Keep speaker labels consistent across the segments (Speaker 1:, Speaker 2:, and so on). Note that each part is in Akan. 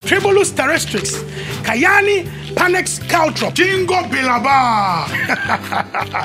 Speaker 1: Tremulus terrestrix, Cayani panax caltrop. Ginkgo biloba.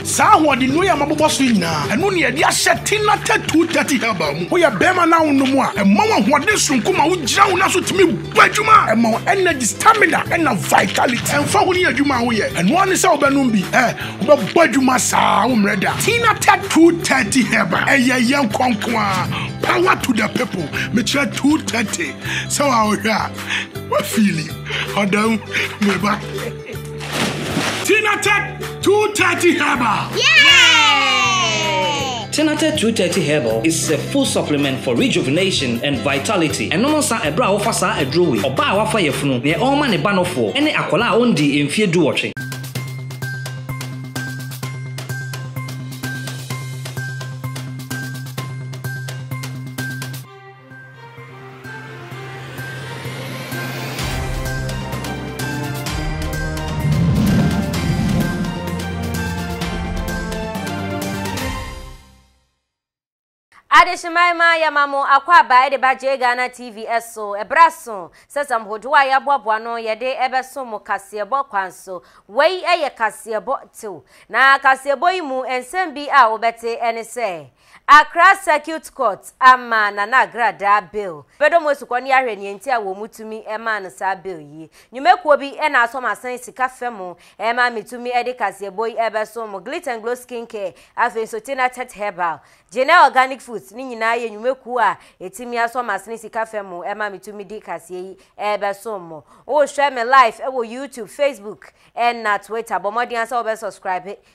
Speaker 1: Saa ahoɔden nnua yi a mabobɔ so yi nyinaa, ɛno na yɛde ahyɛ Tina Tatu Tati Herbal mu. Woyɛ barima na wonom a, ɛma wo ahoɔden soronko ma wogyina wo nan so tumi bɔ adwuma. Ɛma wo energy, stamina, ɛnna vitality. Ɛmfa ho ne adwuma a woyɛ, ɛno ara ne sɛ wobɛnom bi. Ɛ, wobɛbɔ adwuma saa a wommrɛ da. Tina Tatu Tati Herbal, ɛyɛ yɛn kɔnkɔn ara. Power to the people. Mekyerɛ Tatu Tati. Sɛ wa wohwɛ a, wa fili ɔda mu me ba. Tinatec 230 Herbal.
Speaker 2: Tinatec 230 Herbal
Speaker 3: is a full supplement for rejuvenation and vitality. Ɛnom nsa ɛberɛ a wofa saa aduro wei. Ɔbaa a wafa yafunu, neɛ ɔrema ne ba nofoɔ, ɛne akwadaa a ɔndii mfeɛ duwɔtwe.
Speaker 2: Adehyeman ma yɛma mo akwaaba de ba J Ghana TV so. Ɛberɛ aso sɛ sɛm hodoɔ a yɛaboaboa no yɛde ɛbɛso mo kaseɛbɔ kwan so. Wei yɛ kaseɛbɔ tew. Na kaseɛbɔ yi mu nsɛm bi a wobɛte ne sɛ. Accra Circuit Court ama Nana Agradaa bail. Yɛbɛdɔ mo asukɔ ne ahwɛ nea nti a wɔn tumi maa no saa bail yi. Nnwumakuo bi na asɔ m'asen sika fɛ mu ma me tumi de kaseɛbɔ yi rebɛso mo, Glit and Glow Skin Care, afei nso Tina Thet Herbal, Genel Organic Foods ne nyinaa yɛ nnwumakuo a ɛtumi asɔ m'asene sika fɛ mu ma me tumi de kaseɛ yi rebɛso mo. Wo rehwɛ me live wɔ YouTube, Facebook na Twitter, bɔ mmɔden ara sɛ wobɛ subscribe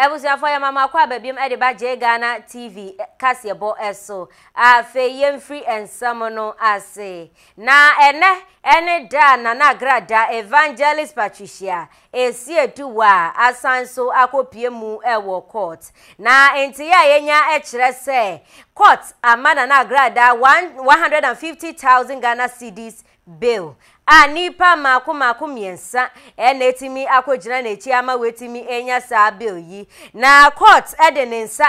Speaker 2: Abusuafoɔ yɛma mo akɔ aba biom de ba Jay Ghana TV kaseɛbɔ so. Afei yɛmfiri nsɛm no ase. Na ɛnɛ ɛne da a Nana Agra da Evangelist Patricia Esiedu wa asan so akɔpie mu wɔ court. Na nteeɛ a yɛnya kyerɛ sɛ court ama Nana Agra da 150,000 Ghana cedis Bill, a nnipa mmaako mmaako mmiɛnsa na atumi akɔgyina n'akyi ama watumi anya saa bill yi, na kɔɔt de ne nsa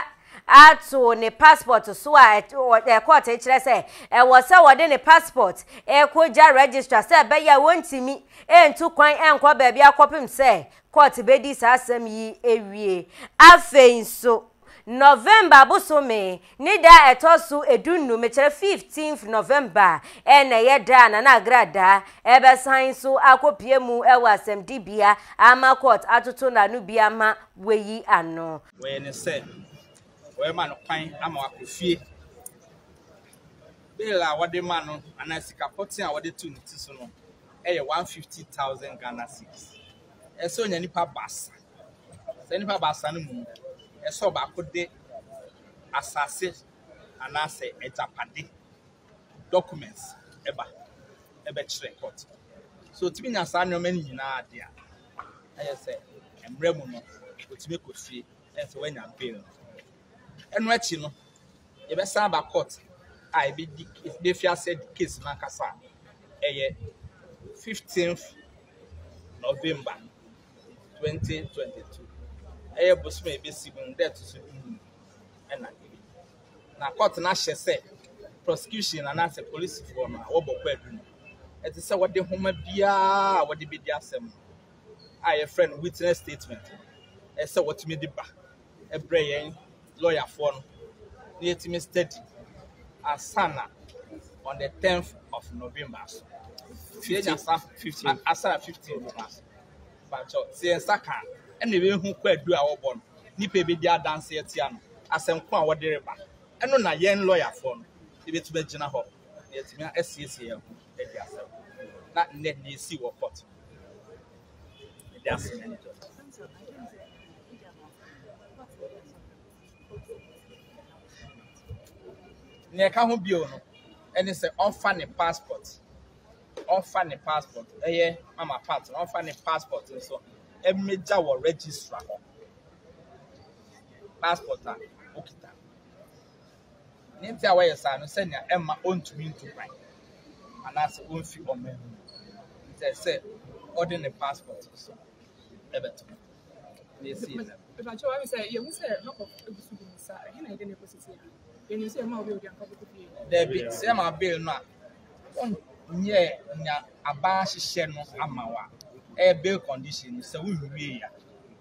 Speaker 2: ato ne passport so a kɔɔt kyerɛ sɛ ɛwɔ sɛ wɔde ne passport kɔgya registrar sɛ ɛbɛyɛ a wɔntumi ntu kwan nkɔ baabi akɔpem sɛ kɔɔt bɛdi saa asɛm yi awie. Afei nso, November bosome ne da a ɛtɔ so edu nnum, mekyerɛ 15th November, na ɛyɛ da a Nana Agradaa ɛbɛsan nso akɔpue mu wɔ asɛmdibea ama court atoto n'ano bi ama wayi ano. Wɔyɛ no sɛ
Speaker 4: wɔrema no kwan ama wakɔ fie. Bail a wɔde ma no anaa sika pɔtee a wɔde to ne ti so no yɛ 150,000 Ghana cedis. Ɛsɛ sɛ onya nnipa baasa. Saa nnipa baasa no mu no, ɛsɛ sɛ ɔbaako de asase anaasɛ agyapade documents ɛba ɛbɛkyerɛ court. So otumi nya saa nneɛma no nyinaa de a, ɛyɛ sɛ mmerɛ mu no otumi kɔ fie ɛyɛ sɛ wanya bail no. Ɛno akyi no, yɛbɛsan aba court a ebedi ebefi ase di case no ankasa a ɛyɛ 15th November. 2022. Ɛyɛ bosoom a ebesi mu no da ɛto so du mu na ebi. Na court no ahyɛ sɛ prosecution anaasɛ polisifoɔ no a wɔbɔ kwaadu no, ɛte sɛ wɔde nhoma biara a wɔde bedi asɛm no a yɛfrɛ no witness statement no, ɛsɛ sɛ wɔtumi de ba ɛbrɛ yɛn lɔyafoɔ no na yɛatumi study ansa na on the tenth of november so nti yɛnya sa a- asa na fifteen no ma so bakyɛ sɛ yɛn nsa ka a ɛna yɛbɛhu kwaadu a wɔbɔ no nnipa a ɛbɛdi adanse atia no asɛnko a wɔde reba ɛno na yɛn lɔyafoɔ no yɛbɛtumi agyina hɔ na yɛatumi asiesie yɛn ho Ɛde asɛm na nnɛ nea esi wɔ court no. Ɛde asɛm na ɛde nea ɛka ho bio no ɛne sɛ ɔmfa ne passport ɔmfa ne passport ɛyɛ mama part no ɔmfa ne passport nso ɛmɛgya wɔ registra hɔ passport a okita. Nea enti a wɔyɛ saa no, sɛnea ɛmma ontumi ntu kwan anaasɛ omfi ɔman mu nti, ɛsɛ sɛ ɔde ne passport nso bɛto hɔ. Mepakyɛ wɔn sɛ yɛhu sɛ Makɔf egu so
Speaker 5: di ne saa, ɛhe na yɛde no ekosi tia? Yɛnim sɛ yɛma
Speaker 4: obi a odi anka ɔbɛkɔ fie. Dabi, sɛ yɛma bail no a, wonyɛ nea aban ahyehyɛ no ama wo a, ɛyɛ bail condition no, sɛ wonwie a,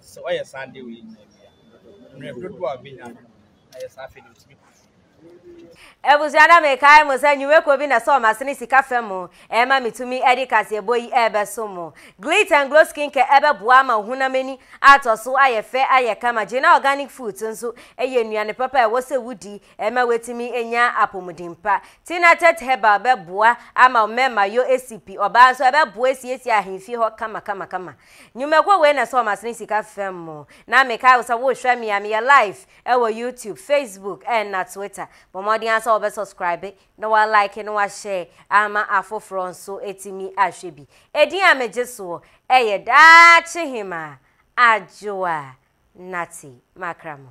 Speaker 4: sɛ ɔyɛ saa adeɛ wei nyinaa bi a, mmerɛ dodoɔ a ɔbɛnya no, ayɛ
Speaker 2: saa afei deɛ ɔtumi kɔ fie. Abusua na mekae mo sɛ nnwumako bi na ɛsɔɔ m'asene sika fam mu ɛma metumi de kaseɛbɔ yi rebɛsom mo. Glitter and Glow Skincare ɛbɛboa ama wo honam ani atɔ so ayɛ fɛ ayɛ kama. Gina Organic Foods nso ɛyɛ nnuane papa a ɛwɔ sɛ wodi ɛma woatumi anya apɔmuden pa. Tina Tet Herbal bɛboa ama wo mmarima yɔ asipi, ɔbaa nso ɛbɛboa asiesie ahemfie hɔ kamakamakama. Nwumakuo wei na ɛsɔɔ m'asene sika fam mo na mekae wo sɛ wohwɛ me a meyɛ live ɛwɔ YouTube, Facebook ɛna Twitter. Bɔ mmɔden ara sɛ wobɛ subscribe na wa like na wa share ama afoforɔ nso atumi ahwɛ bi. Edin a megye soɔ ɛyɛ Daakye Hemaa Adwoa Natty Makramo.